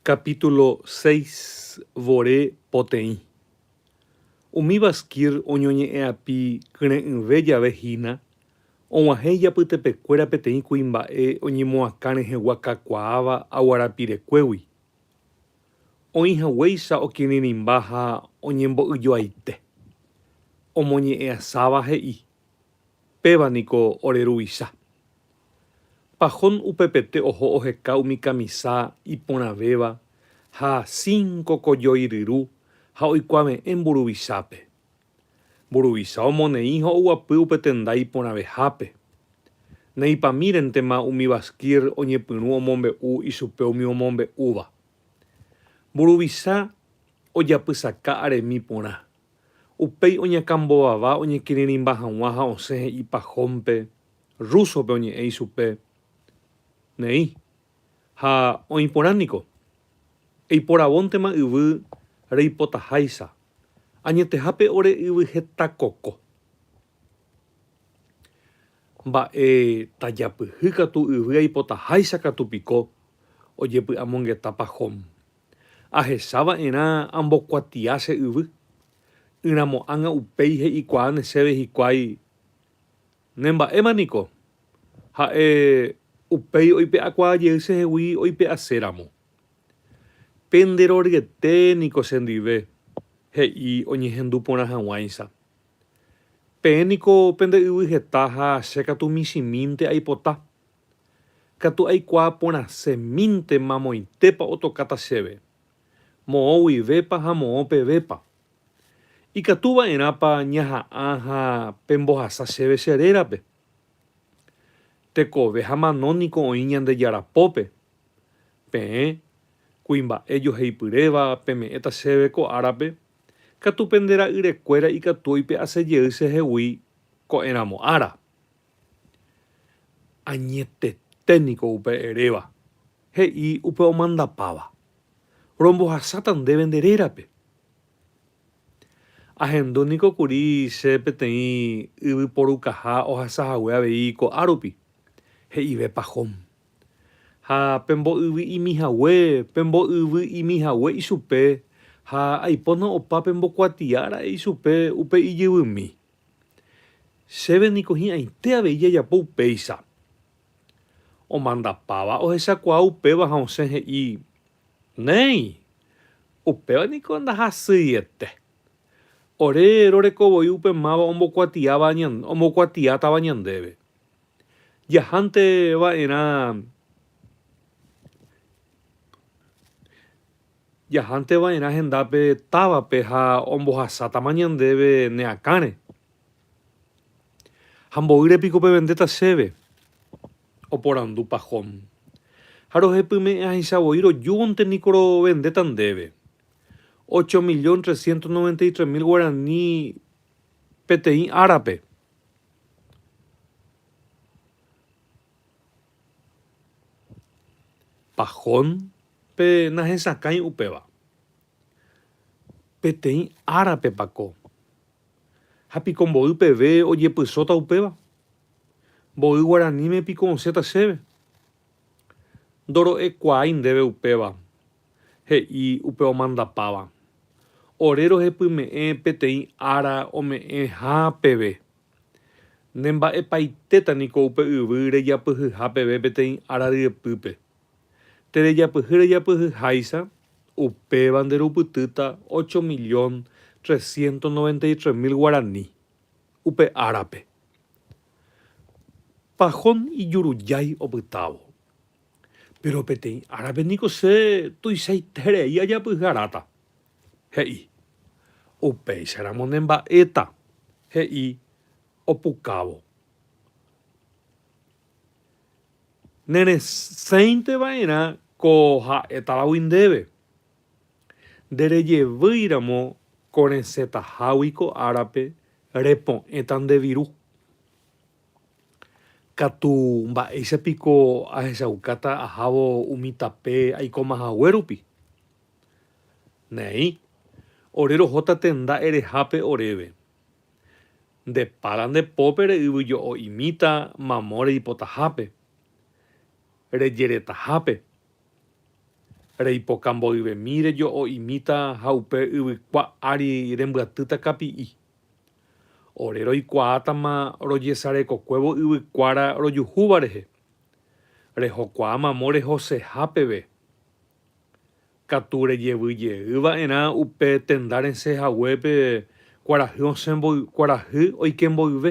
Capítulo seis vore poteĩ. Umi Bashkir oñoñe'ẽapi kyre'ỹve jave hína, og̃uahẽ ijapytepekuéra peteĩ kuimba'e oñemoakã rehegua kakuaáva aguarapirekuégui. Oĩ haguéicha okirirĩmba ha oñembo'yjoaite. Omoñe'ẽasáva he'i. Péva niko ore ruvicha. Pajón upepete oho oheka umi kamisa iporãvéva ha cinco kojoyryru ha oikuave'ẽ mburuvichápe. Mburuvicha omoneĩ ha oguapy upe tenda iporãvehápe. Neipamírentema umi Basquir oñepyrũ omombe'u ichupe umi omombe'úva. Mburuvicha ojapysaka aremi porã. Upéi oñakãmbovava oñekirirĩmba hag̃ua ha osẽ he'i Pajón-pe, rúsope oñe'ẽ ichupe, Neĩ, ha oĩ porã niko. Eiporavóntema yvy reipotaháicha, añetehápe ore yvy heta koko. Mba'e tajapyhy katu yvy aipotaháicha katu piko, ojepy'amongeta Pajón. Ahecha va'erã ambokuatia che yvy. Ỹramo ág̃a upéi he'ikuaáne chéve hikuái, Ne mba'éma niko. Ha'e upéi oipe'akuaa jey chehegui oipe'ase ramo. Pende roryete niko chendive, he'i oñehendu porã haguãicha. Peẽ niko pende yvy heta ha che katu michĩmínte aipota. Katu aikuaa porãse mínte mamoitépa otokáta chéve, moõ guivépa ha moõ pevépa. Ikatu va'erãpa ñaha'ã ha pembohasa chéve che rérape. Tekove ha mano niko oĩ Ñandejára pópe. Peẽ, kuimba'e joheipyréva, peme'ẽta chéve ko árape, katu pende ra'yrekuéra ikatu oipe'ase jey chehegui ko'ẽramo ára. Añetete niko upe eréva, he'i upe omandapáva, Rombohasáta ndéve nde rérape. Ahendu niko kuri che peteĩ yvy porukaha ohasa hague avei ko'á rupi, he'ive Pahom. Ha pembo'yvy'imi hague, pembo'yvy'imi hague ichupe, ha aipóna opa pembokuatia ra'e ichupe upe ijyvymi. Chéve niko hi'ãite avei jajapo upéicha. Omandapáva ohechakuaa upéva ha osẽ he'i, Néi, upéva niko ndahasyiete. Ore roreko voi upe máva ombokuatiátava ñandéve. Jahánte va'erã. Jahánte va'erã hendápe távape ha ombohasátama ñandéve ne akãre. Ha mboýre piko pevendéta chéve? oporandu Pahom. Ha rohepyme'ẽ ahẽicha voi rojúvonte niko rovendéta ndéve. Ocho millón trescientos noventa y tres mil guarani peteĩ árape. Pahón pe nahesakãi upéva. Peteĩ árapepa ko. Ha piko mboy peve ojepysóta upéva? Mboy guaraníme piko osẽta chéve? Ndoro'ekuaái ndéve upéva, he'i upe omandapáva. Ore rohepyme'ẽ peteĩ ára ome'ẽha peve. Ne mba'epaitéta niko upe yvy rejapyhyha peve peteĩ ára ryepýpe. Terejapyhy rejapyhy háicha, upéva nde rupytýta ocho millón trescientos noventa y tres mil guarani upe árape. Pajón ijurujái opytávo. Péro peteĩ árape niko che tuichaiterei ajapyhy aráta. He'i, Upéicha ramo ne mba'éta, he'i opukávo. Ne resẽinte va'erã ko ha'e tavagui ndéve. Nde rejevýi ramo ko resẽtahágui ko árape repo'ẽta nde viru. Katu mba'éicha piko ahechaukáta ahávo umi tape aikóma hague rupi? Neĩ, ore rohóta tenda erehápe oréve. Nde pára nde pópe re'yvy jo'o imíta mamo reipotahápe, rejeretahápe, reipoka mboyvemi rejo'o imíta ha upe yvykua ári rembyatýta kapi'i. Ore roikuaátama rojesarekokuévo yvykuára rojuhúva rehe, rehokuaa mamo rehoseha peve. Katu rejevy jey va'erã upe tenda resẽ haguépe kuarahy osẽ kuarahy oike mboyve,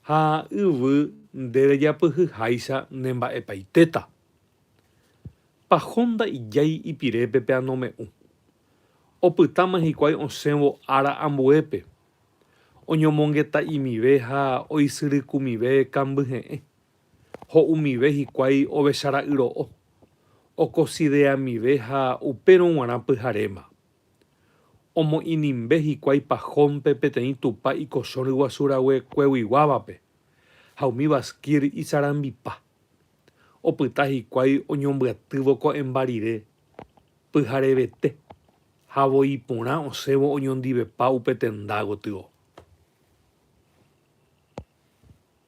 ha yvy nde rejapyhy háicha ne mba'epaitéta. Pahónda ijái ipirépe pe anome'ũ. Opytáma hikuái osẽvo ára ambuépe, oñomongeta'imive ha oisyrykumive kambyhe'ẽ. ho umive hikuái ovecha ra'y ro'o, okosideamive ha upérõ g̃uarã pyharéma. Omo'inimbe hikuái pahónpe peteĩ tupa ikochõ ryguasu rague kueguiguávape, ha umi Baskir isarambipa. Opyta hikuái oñombyatývo ko'ẽmba rire, pyharevete, ha voi porã osẽvo oñondivepa upe tenda gotyo.